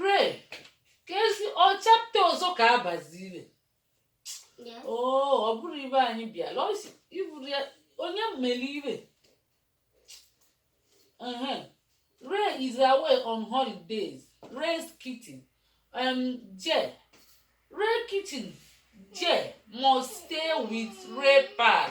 re ka ezi ọ chapta ọzọ ka abazire oo ọ bụrụ ibe anyị bịala ọ sị ịhụrụ ya onye mmeli ibe Ehe. Ray is away on holidays. Ray's kitten. Um, Jay. Ray kitten. Jay must stay with Ray pal.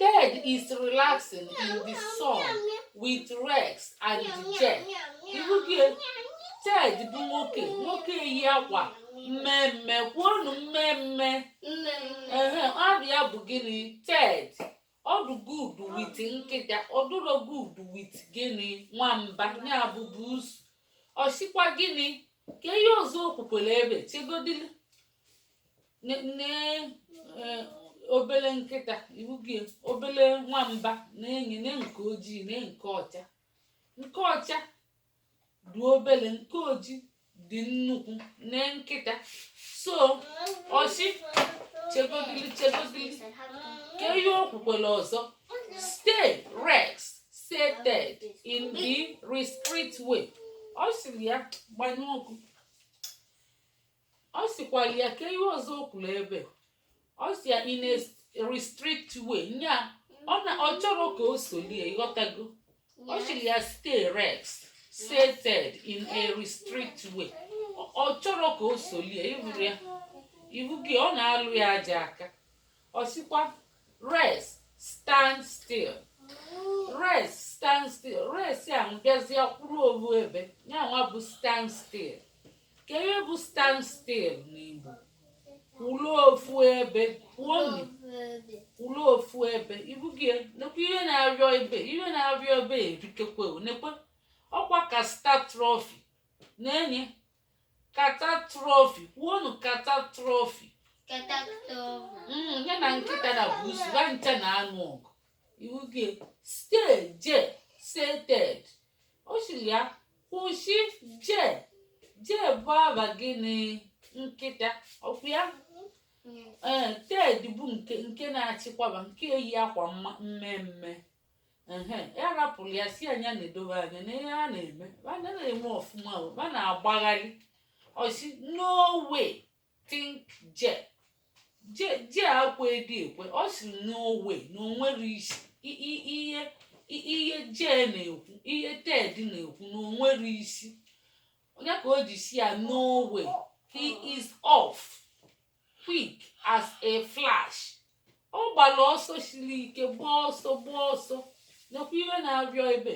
Ted is relaxing in the sun with Rex and Jet. Ịhụgo Ted bụ nwoke nwoke yi akwa mmemme kwuonu mmemme ehe aha ya bụ gịnị Ted ọ dụ good with nkịta ọ dụrọ good with gịnị nwamba ya bụ busu ọ sịkwa gịnị kee ihe ọzọ o kwukwere ebe chegodili nne eh, obele nkịta ịhụgo obele nwamba na-enye na nke ojii na nke ọcha nke ọcha dị obele nke ojii dị nnukwu na nkịta so ọ sị chegodili chegodili kee ihe o kwukwere ọzọ stay Rex said Ted in the restrict way ọ sịrị ya gbanye ọkụ ọ sịkwa ya kee ihe ọzọ o kwuru ebe ọ sị ya in a restrict way nya ọ na ọ chọrọ ka o solie ịghọtago ọ sịrị ya stay Rex said Ted in a restrict way Ọ- ọ chọrọ ka o solie ịhụrụ ya ịhụgo ọ na-alụ ya aja aka ọ sịkwa Rex stand still Rex stand still Rex a bịazịa kwụrụ ofu ebe ya nwa bụ stand still kee ihe bụ stand still n'Igbo kwụrụ ofu ebe kwuonu kwụrụ ofu ebe ịhụgo ya nekwa ihe na-arịọ ebe ihe na-arịọ ebe erikekwe nekwe ọkwa catastrophe na-enye catastrophe kwuonu catastrophe mm, ya na nkịta na busu ha ncha na-anụ ọgụ ịhụgo ya stay Jet said Ted ọ sịrị ya kwụsị Jet Jet bụ aha gịnị nkịta ọkwa ya ee Ted bụ nke nke na-achịkwaba nke yi akwa mma- mmemme ehe ya rapụrụ ya sị ya nya na-edobe anya na ihe a na-eme a na-eme ọfụma o, a na-agbagharị ọ sị no way think je je je akwa edi ekwe ọ sị no way na onwere isi I- i- ihe i- ihe je na-ekwu ihe ted na-ekwu na onwere isi onye ka o ji si ya no way he is off quick as a flash ọ gbara ọsọ siri ike gbaa ọsọ gbaa ọsọ nekwa ihe na-arịọ ebe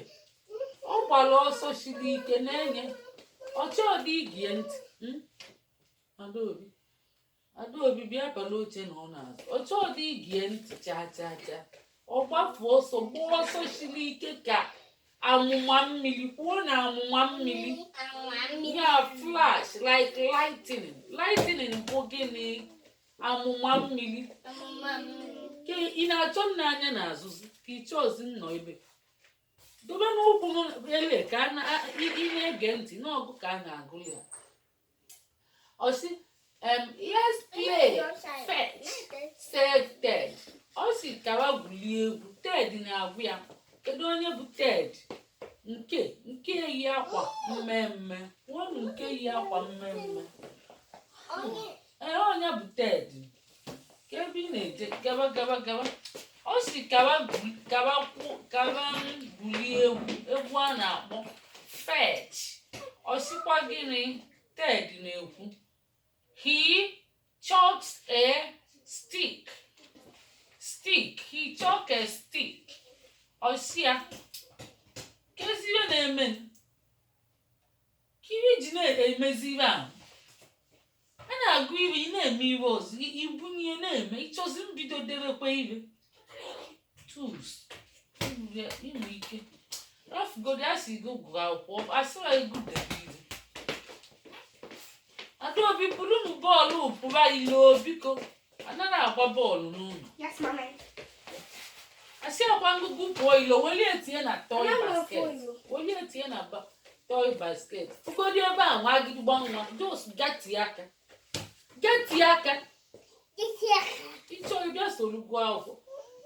ọ gbara ọsọ siri ike Nenye ọ chọdị igie ntị mm? Adaobi Adaobi bịa palụ oche nọọ n'azụ ọ chọdị igie ntị chaa chaa chaa ọ gbapụ ọsọ gbaa ọsọ siri ike ka amụma mmiri kwuo na amụma mmiri ya flash like lightning lightning bụ gịnị amụma mmiri ka ị na-achọ nna anya n'azụzi ka ịchọ ozi nnọ ebe dobe n'ụkwụ ele ka a na- a- ị ị na-ege ntị n'ọgụ ka a na-agụli ya ọ sị em, let's play fetch said ted ọ sị ka wa gwulie egwu ted na-agwa ya kedu onye bụ ted nke nke yi akwa mmemme nwanụ nke yi akwa mmemme ee onye bụ ted gaba gaba gaba ọ sị ka wa ka wa ka wa gwulie egwu egwu a na-akpọ fetch ọ sịkwa gịnị ted na-ekwu he chucks a stick stick he chuck a stick ọ si ya kezi ihe na-eme ke ihe i ji na-emezi ihe ahụ a na-agụ iwe ị na-eme iwe ọzọ i- ibunye ya na-eme ịchọzi mbido debekwa iwe tools inwe inwe ike rafugodi a sị gị gụọ akwụkwọ asịrọ gị debe iwe adaobi burunụ bọọlụ pụba ilo biko anaghị agba bọọlụ n'ụlọ Yes, mommy. asịkwa m gị pụọ ilo welie tinye na toy Anaghị apụ basket ilo. welie tinye na ba- toy basket ụgodi ebe a nwa gị gba nwa jos gati aka gati aka Isi aka. ịchọ ịbịa soro gụọ akwụkwọ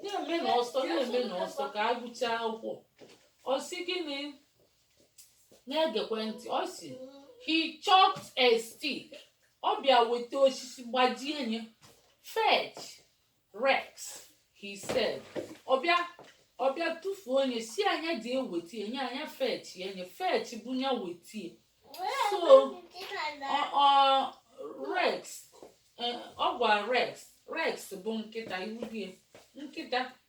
na-eme n'ọsọ na-eme n'ọsọ ka agụchaa akwụkwọ ọ sị gịnị na-egekwe ntị ọ sị he chucked a stick ọ bịa weta osisi gbajie nye fetch rex he said ọ bịa ọ bịa tụfuo nye sị nya je wetie nya nya fetch ya nye fetch bụ nya wetie so ọ ọ rex eh, ọ gwa rex rex bụ nkịta iwudie nkịta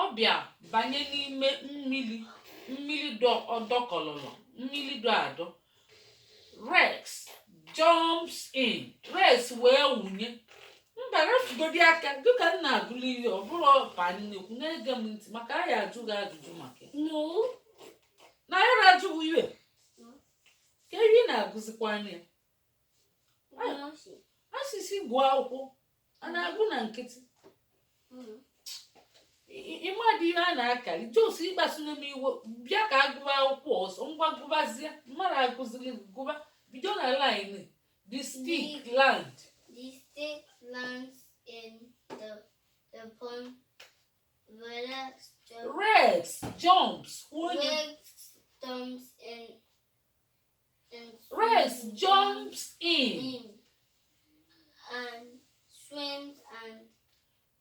ọ bịa banye n'ime mmiri dọkọlọlọ mmiri dọ adọ rex jumps in rex wee wụnye mba wefụgodi aka dịka m na-agụlụ ihe ọ bụrụ ọba nnekwu na-ege m ntị maka a ya-ajụ gị ajụjụ maka ya. na a ya-ajụ gị ihe ka ihe na-agụzikwa anya ya a sị sị gụọ akwụkwọ a na-agụ na nkịtị mm-hmm. ị madị ihe a na-akari just ịkpasu m iwe bịa ka agụba akwụkwọ ọzọ ngwa gụbazie mmadụ agụziri gụba bido na line the stick land the stick lands in the, the pond Rex jumps. Rex jumps in Rex jumps in. And swims and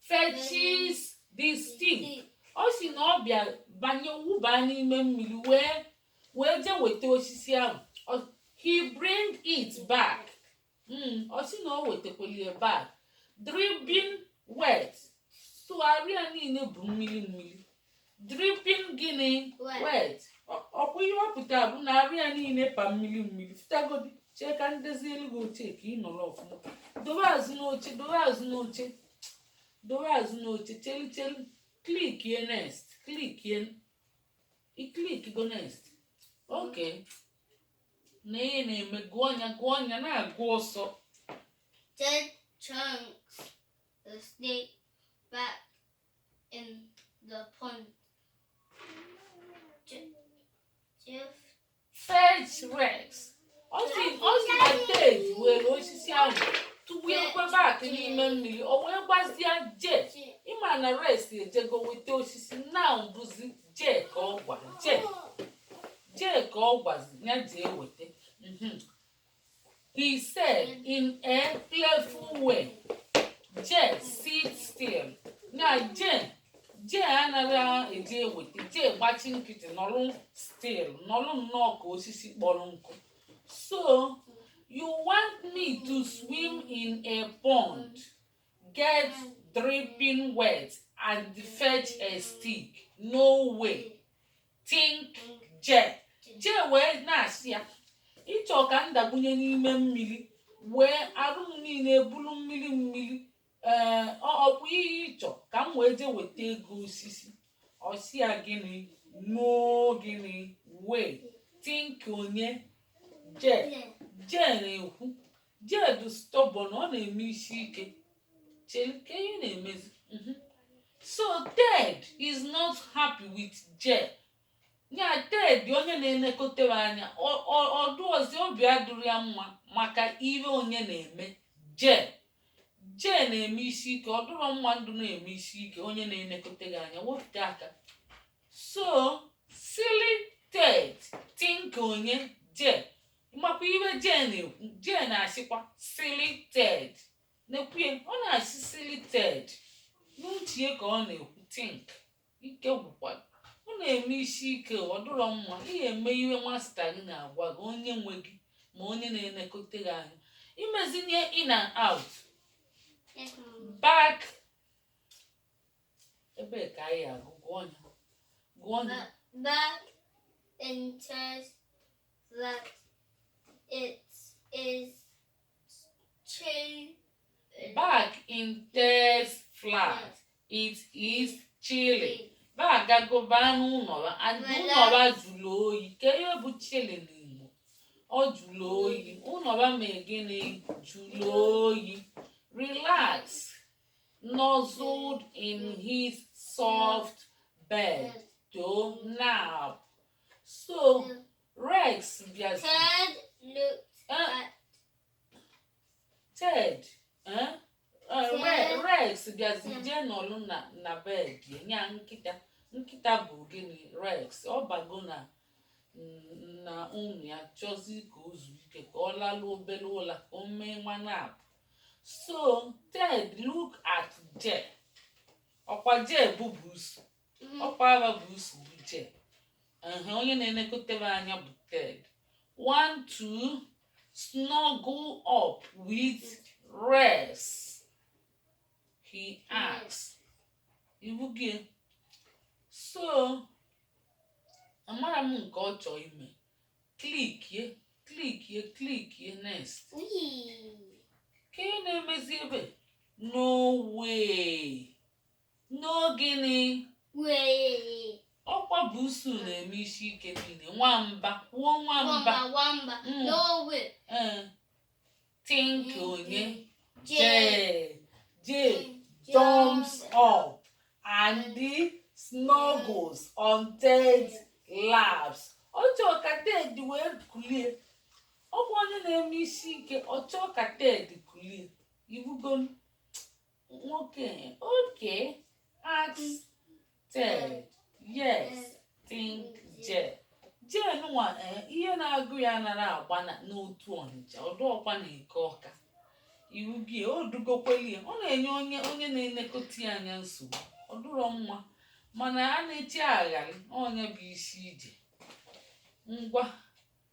fetches the stick. Ọ sị na ọ bịa banye wụba n'ime mmiri wee wee jee weta osisi ahụ. He bring it back. Hmm, ọ sị na o wetakwali ya back dripping wet so arụ ya niile bụ mmiri mmiri dripping gịnị Wet. wet Ọ- ọkwa ihe ọ pụtara bụ na arụ ya niile pa mmiri mmiri fụtagodi chee ka m dozielu gị oche ka ị nọrọ ọfụma dowe azụ n'oche dowe azụ n'oche dowe azụ n'oche chelu chelu clickie next clickie i clickigo next okay na ihe na-eme gụọ anya gụọ anya na-agụ ọsọ Ted chucks the stick back in the pond. Je- Jeff fetch rex ọ sị ọ sị na ted were osisi ahụ tụbakwa back n'ime mmiri o wee gwazia jee ị ma na rex ejego weta osisi na ọ bụzi jee ka ọ gwa jee jee ka ọ gwazi ya jee weta mhm. he said in a playful way jee sit still na jee jee anaghị eje eweta jee gbachi nkịtị nọrụ still nọrụ nnọọ ka osisi kpọrọ nkụ so you want me to swim in a pond Get dripping wet and fetch a stick. No way. Think Jee. Jee wee na-asị ya ị chọ ka m dakpunye n'ime mmiri wee arụ m niile bụrụ mmiri mmiri ee ọkwa ihe ị chọ ka m wee jee weta ego osisi ọ sị ya gịnị no gịnị way think onye jee jee na-ekwu Jay dị stubborn, ọ na-eme isi ike. Chere kee ihe na-emezi. Mhm. So Ted is not happy with Jay. Ya Ted onye na-elekọta ya anya ọ- ọ- ọ dịrọzi obi adịrọ ya mma maka ihe onye na-eme Jay. Jay na-eme isi ike ọ dịrọ mma ndụ na-eme isi ike onye na-elekọta gị anya wepụta aka. So silly Ted think onye Jay makwa ihe Jay na-ekwu Jay na-asịkwa silly Ted na-ekwuye ọ na-asị silly Ted n'uche ka ọ na-ekwu think ike gwụkwa ọ na-eme isi ike ọ dịrọ mma ị ga-eme ihe masta gị na-agwa gị onye nwe gị ma onye na-elekọta gị anya imezinye in and out back ebe ka anyị agụ gụọ ya gụọ ya Ba- Back in Ted's flat it is chilly. Back in Ted's flat, it is chilly. Back gago baa n'ụnọ ha, and ụnọ ha jụrụ oyi. Kee ihe bụ chilly n'Igbo, ọ jụrụ oyi. Ụnọ ha mee gịnị? Jụrụ oyi. Relax, nuzzled in his soft bed, to nap. So No. Rex bịazi Ted looked Eh, at Ted eh, eh, Re- Ted. Rex bịazi Mm. jee nọlụ na na bed nya nkịta nkịta bụ gịnị Rex ọ bago na mm, na room ya chọzi ka o zuo ike ka ọ lalụ obele ụla ka o mee nwa nap so Ted look at Jay ọkwa Jay bụ busu mhm. ọkwa aha busu bụ Jay ehe onye na-elekọta ya anya bụ Ted want to snuggle up with Rex he asks ị hụgo ya so amara m nke ọ chọọ ime klikie klikie klikie next kee ihe na-emezi ebe no way No gịnị? Way. Ọkwa busu na-eme isi ike niile. Nwamba. Kwuo nwamba. Nwamba. Nwamba. Mm. No way. Ee. Think onye. Jay. Jay jumps up and snuggles on Ted's laps. Ọ chọọ ka Ted wee kulie. Ọ bụ onye na-eme isi ike. Ọ chọọ ka Ted kulie. Ị hụgo Nwoke, okay. Ask, tell, yes, think, je. Je nwa ihe na-agụ ya nara agba n'Otu Ọnịcha ọdụ ọkwa n'Eke Ọka iwu gị o dugokweli ọ na-enye onye na-elekọta ya anya nsogbu ọ dụrọ mma mana a na-echigharị onye bụ isi ije ngwa